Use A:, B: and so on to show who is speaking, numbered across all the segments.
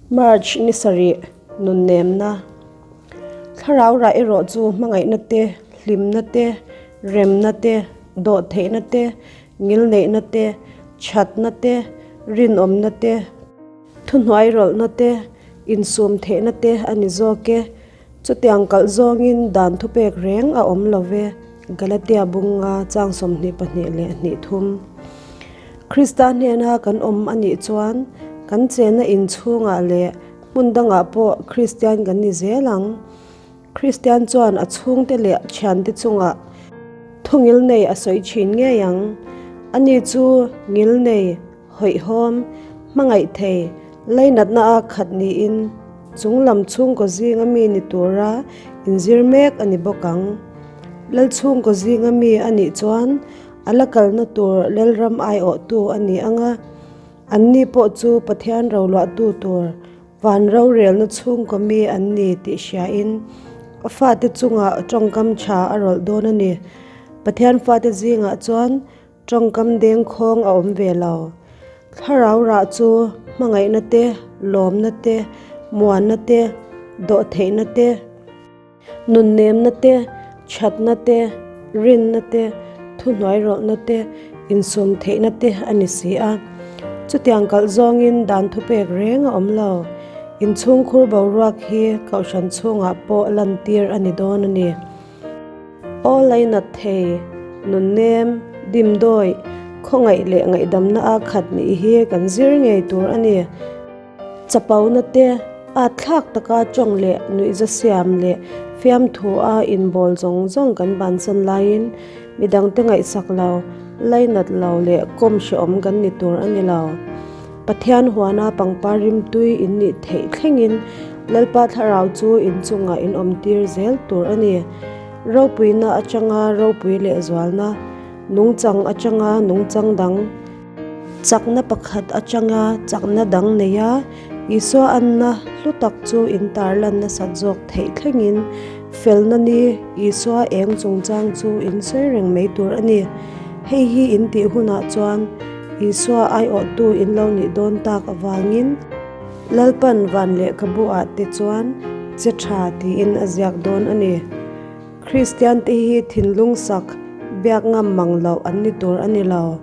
A: March ni sarih nunnemna. Thlarau rah erawh chu hmangaihna te, hlimna te, remna te, dawh theihna te, ngil neihna te, thatna te, rinawmna te, thuhnuai rawlhna te, insum theihna te a ni zawk e. Chutiang kalh zawngin dan thupek reng a awm lo ve. Galatia bunga chang sawmhnih pahnih leh hnih thum. Krista hnena kan awm a nih chuan kan chenna inchhungah leh hmun dangah pawh Kristian kan ni zel ang. Kristian chuan a chhungte leh thiante chungah thungil nei a sawi thin ngei ang. Ani chu ngil nei. Hawihhawm, hmangaih thei, lainatna a khat niin chunglam chhungkaw zinga mi ni tura inzir mek a ni bawk ang. Lal chhungkaw zinga mi a nih chuan a la kalna tur Lalram aiawhtu a ni ang a, anni pawh chu Pathian roluahtu tur van rorelna chhungkaw mi an ni tih hriain a fate chungah tawngkam tha a rawlh dawn a ni. Pathian fate zingah chuan. Tawngkam deng khawng a awm ve lo. Thlarau rah chu hmangaihna te, lawmna te, muanna te, dawhtheihna te, nunnemna te, thatna te, rinna te, thuhnuai rawlhna te, insum theihna te a ni si a. Chutiang kalh zawngin dan thupek reng a awm lo. Inchhungkhur boruak hi Kohhran chhungah pawh lantir a ni dawn a ni. Aw lei nat thei, nunnem, dimdawi, khawngaih leh ngaihdamna a khat nih hi kan zir ngei tur a ni. Chapona te, ahthlak taka tawng leh nuihza siam leh fiamthu a inbawl zawng zawng kan bansan laiin midangte ngaihsak lo, lei nat lo leh kawm hrehawm kan ni tur a ni lo. Pathian huana pangpar rimtui in nih theih thlengin Lalpa thlarau chu in chungah in awmtir zel tur a ni. Ropuina atanga ropui lehzualna, nungchang atanga nungchang dang, chakna pakhat atanga chakna dang neia Isua anna hlu tak chu in tarlan nasat zawk theih thlengin, Felna ni, Isua eng chungchang chu in sawi reng mai tur a ni. Hei hi in tih hunah chuan Isua aiawhtu in lo nih dawn tak avangin, Lalpan van leh ka bu ah te chuan che tha tiin a ziak dawn a ni. Kristiante hi thinlung sak, biak ngam mang loh an ni tur a ni lo.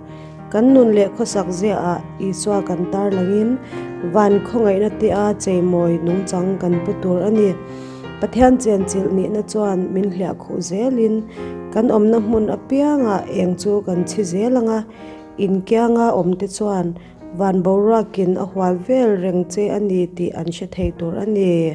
A: Kan nun leh khawsak ziaah Isua kan tarlangin van khawngaihna tia cheimawi nungchang kan pu tur a ni. Pathian chianchilh nihna chuan min hliah khuh zelin kan awmna hmun apianga eng chu kan chhi zel ang a. In kianga awmte chuan van boruakin a hual vel reng che a ni tih an hre thei tur a ni.